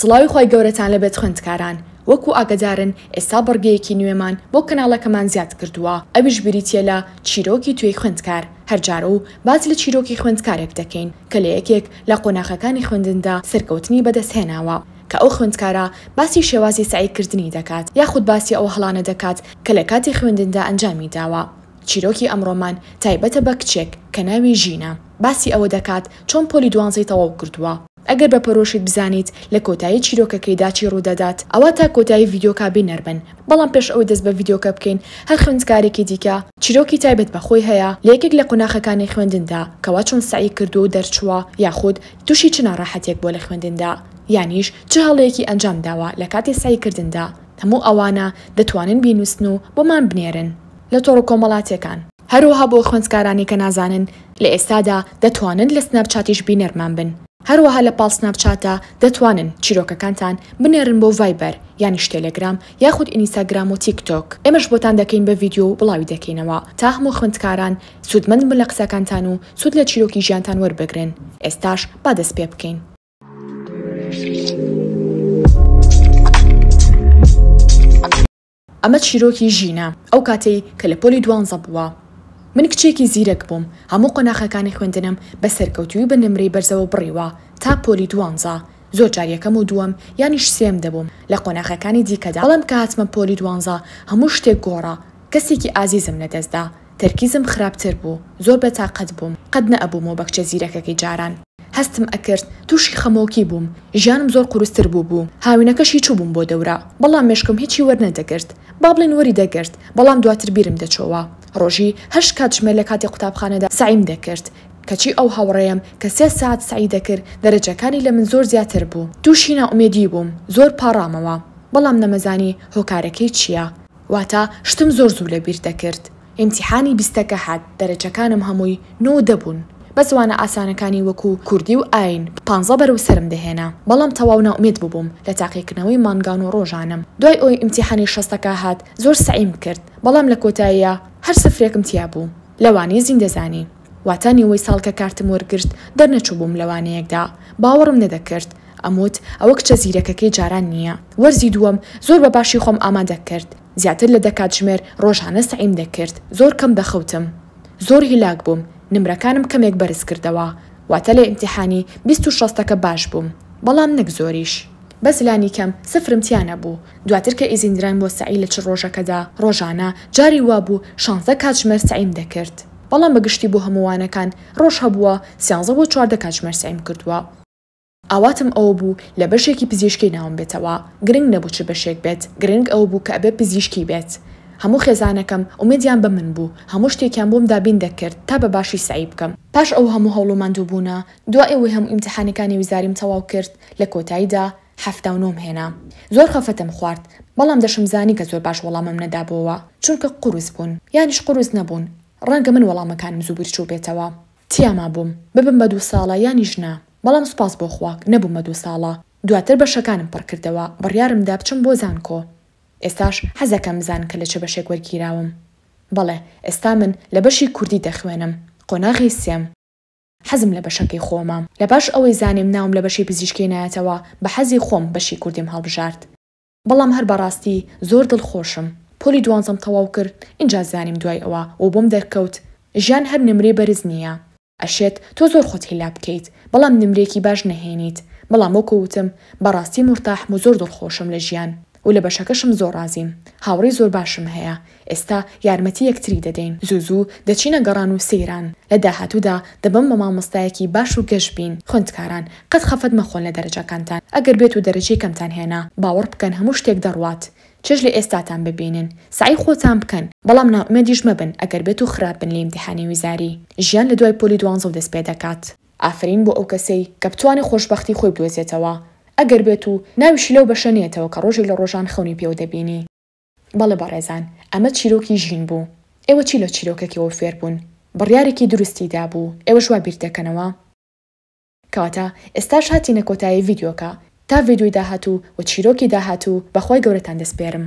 سڵاوی خوای گەورەتان لەبێت خوێندکاران، وەکو ئاگەدارن ئێستا بڕگەیەکی نوێمان بۆ کەناڵەکەمان زیاد کردووە ئەویش بریتیە لە چیرۆکی توێی خوێندکار، هەرجارەو باس لە چیرۆکی خوێندکارێک دەکەین کە لە یەکێک لە قۆناخەکانی خوێندندا سەرکەوتنی بەدەستهێناوە کە ئەو خوێندکارە باسی شێوازی سەعی کردنی دەکات یاخود باسی ئەو هەڵانە دەکات کە لە کاتی خوێندندا ئەنجامی داوە چیرۆکی ئەمڕۆمان تایبەتە بە کچێک کە ناوی ژینە باسی ئەوە دەکات چۆن پۆلی دوانزەی تەواو کردووە. ئەگەر بە پەرۆشت بزانیت لە کۆتایی چیرۆکەکەیدا چی ڕوودەدات ئەوا تا کۆتایی ڤیدیۆکە بینەر بن بەڵام پێش ئەوەی دەست بە ڤیدیۆکە بکەین هەر خوێندکارێکی دیکە چیرۆکی تایبەت بە خۆی هەیە لە یەکێک لە قوناخەکانی خوێندندا کەوا چۆن سەعی کردووە و دەرچووە یاخود توشی چ ناڕەحەتیەک بووە لە خوێندندا یانیش چ هەڵەیەکی ئەنجام داوە لە کاتی سەعی کردندا هەموو ئەوانە دەتوانن بینووسن و بۆمان بنێرن لە تۆڕ کۆمەڵاتیەکان. هەروەها بۆ خوێندکارانی کە نازانن لە ئێستادا دەتوانن لە سناپ چاتیش بینەرمان بن هەروەها لە پاڵ سناپ چاتە دەتوانن چیرۆکەکانتان بنێرن بۆ ڤایبەر یانیش تێلێگرام یاخود ئینیستاگرام و تیک تۆک ئێمەش بۆتان دەکەین بە ڤیدیۆ و بڵاوی دەکەینەوە تا هەموو خوێندکاران سوودمەند بن لە قسەکانتان و سوود لە چیرۆکی ژیانتان وەربگرن ئێستاش با دەست پێ بکەین. ئەمە چیرۆکی ژینە ئەو کاتەی کە لە پۆلی دوانزە بووە. من کچێکی زیرەک بووم، هەموو قۆناخەکانی خوێندنم بە سەرکەوتووی و بە نمرەی بەرزەوە بڕیوە تا پۆلی دوانزە، زۆر جار یەکەم و دووەم یانیش سێم دەبووم لە قۆناخەکانی دیکەدا، بەڵام کە هاتمە پۆلی دوانزە هەموو شتێک گۆڕا، کەسێکی ئازیزم لەدەستدا، تەرکیزم خراپتر بوو، زۆر بێ تاقەت بووم، قەت نەئەبووم وەو بەکچە زیرەکەکەی جاران هەستم ئەکرد، تووشی خەمۆکی بووم، ژیانم زۆر قورستر بووبوو، هاوینەکەش هی چووبووم بۆ دەورە، بەڵام مێشکم هیچی وەرنەدەگرت، با بڵێین وەری دەگرت، بەڵام دواتر بیرم دەچۆوە، ڕۆژی هەشت کاتژمێر لە کاتی قوتابخانەدا سەعیم دەکرد، کەچی ئەو هاوڕێیەم کە سێ سەعات سەعی دەکرد دەرەجەکانی لە من زۆر زیاتر بوو، تووشی نائومێدی بووم، زۆر پاڕامەوە، بەڵام نەمەزانی هۆکارەکەی چییە، واتە شتم زۆر زوو لە بیر دەکرد ئیمتیحانی بیستەکە هات دەرەجەکانم هەمووی نۆ و دە بوون بەس وانە ئاسانەکانی وەکو کوردی و ئایین پانزە بەرەو سەرم دەهێنا بەڵام تەواو نائومێد ببووم لە تاقیکردنەوەی مانگان و ڕۆژانم دوای ئەوەی ئیمتیحانی شەستەکە هات زۆر سەعیم کرد بەڵام لە کۆتاییا هەر سفرێکم تیا بوو لەوانەی زیندەزانی واتا نیوەی ساڵ کە کارتم وەرگرت دەرنەچووبووم لە وانەیەکدا باوەڕم نەدەکرد ئەموت ئەوە کچە زیرەکەکەی جاران نییە وەرزی دووەم زۆر بە باشی خۆم ئامادە کرد زیاتر لە دە کاتژمێر ڕۆژانە سەعیم دەکرد زۆر کەم دەخەوتم زۆر هیلاک بووم نمرەکانم کەمێک بەرز کردەوە واتا لە ئیمتیحانی بیست و شەستەکە باش بووم بەڵام نەک زۆریش بەس لانیکەم سفرم تیا نەبوو دواتر کە ئیزین دراین بۆ سەعی لە چل ڕۆژەکەدا ڕۆژانە جاری وابوو شانزە کاتژمێر سەعیم دەکرد. بەڵام بە گشتی بۆ هەموو وانەکان ڕۆژ هەبووە، سیانزە بۆ چواردە کاتژمێر سەعیم کردووە. ئاواتم ئەوە بوو لە بەشێکی پزیشکی ناوم بێتەوە، گرنگ نەبوو چ بەشێک بێت، گرنگ ئەوە بوو کە ئەبێ پزیشکی بێت. هەموو خێزانەکەم ئومێدیان بە من بوو، هەموو شتێکیان بۆم دابین دەکرد تا بە باشی سەعی بکەم. پاش ئەو هەموو هەوڵ و ماندووبوونە، دوای ئەوەی هەموو ئیمتیحانەکانی وزاریم تەواو کرد، لە کۆتاییدا حەفتا و نۆم هێنا زۆر خەفەتم خوارد بەڵام دەشمزانی کە زۆر باش وەڵامم نەدابۆوە چونکە قورس بوون یانیش قورس نەبوون ڕەنگە من وەڵامەکانم زوو بیرچوو بێتەوە تیا مابووم ببم بە دوو ساڵە یانیش نا بەڵام سوپاس بۆ خوا نەبووم بە دوو ساڵە دواتر بەشەکانم پڕ کردەوە بڕیارم دا بچم بۆ زانکۆ ئێستاش حەزەکەم بزان کە لە چ بەشێک وەرگیراوم بەڵێ ئێستا من لە بەشی کوردی دەخوێنم قۆناغی سێم. حەزم لە بەشەکەی خۆمە لە پاش ئەوەی زانیم ناوم لە بەشی پزیشکی نایەتەوە بە حەزی خۆم بەشی کوردیم هەڵبژارد. بەڵام هەر بەڕاستی زۆر دڵ خۆشم پۆلی دوانزەم تەواو کرد ئینجا زانیم دوای ئەوە و بۆم دەرکەوت ژیان هەر نمرەی بەرز نیە ئەشێت تۆ زۆر خۆت هیلا بکەیت بەڵام نمرەیەکی باش نەهێنیت بەڵام وەکو وتم بەڕاستی مورتاحم و زۆر دڵ خۆشم لە ژیان و لە بەشەکەشم زۆر ڕازیم هاوڕێی زۆر باشم هەیە ئێستا یارمەتی یەکتری دەدەین زوو زوو دەچینە گەڕان و سەیران لە داهاتوودا دەبم بە مامۆستایەکی باش و گەش بین خوێندکاران قەت خەفەت مەخۆن لە دەرەجەکانتان ئەگەر بێت و دەرەجەی کەمتان هێنا باوەڕ بکەن هەموو شتێک دەڕوات چێژ لە ئێستاتان ببینن سەعی خۆتان بکەن بەڵام نائومێدیش مەبن ئەگەر بێت و خراپ بن لە ئیمتیحانی وزاری ژیان لە دوای پۆلی دوانزەو دەست پێ دەکات. ئافەرین بۆ ئەو کەسەی کە بتوانێ خۆشبەختی خۆی بدۆزێتەوە ئەگەر بێت و ناویشی لەو بەشە نێتەوە کە ڕۆژێک لە ڕۆژان خەونی پێوە دەبینی. بەڵێ بەڕێزان، ئەمە چیرۆکی ژین بوو. ئێوە چی لە چیرۆکەکەوە فێر بوون؟ بڕیارێکی دروستی دابوو، ئێوەش وا بیر دەکەنەوە؟ کەواتە ئێستاش هاتینە کۆتایی ڤیدیۆکە، تا ڤیدیۆی داهاتوو و چیرۆکی داهاتوو بە خوای گەورەتان دەسپێرم.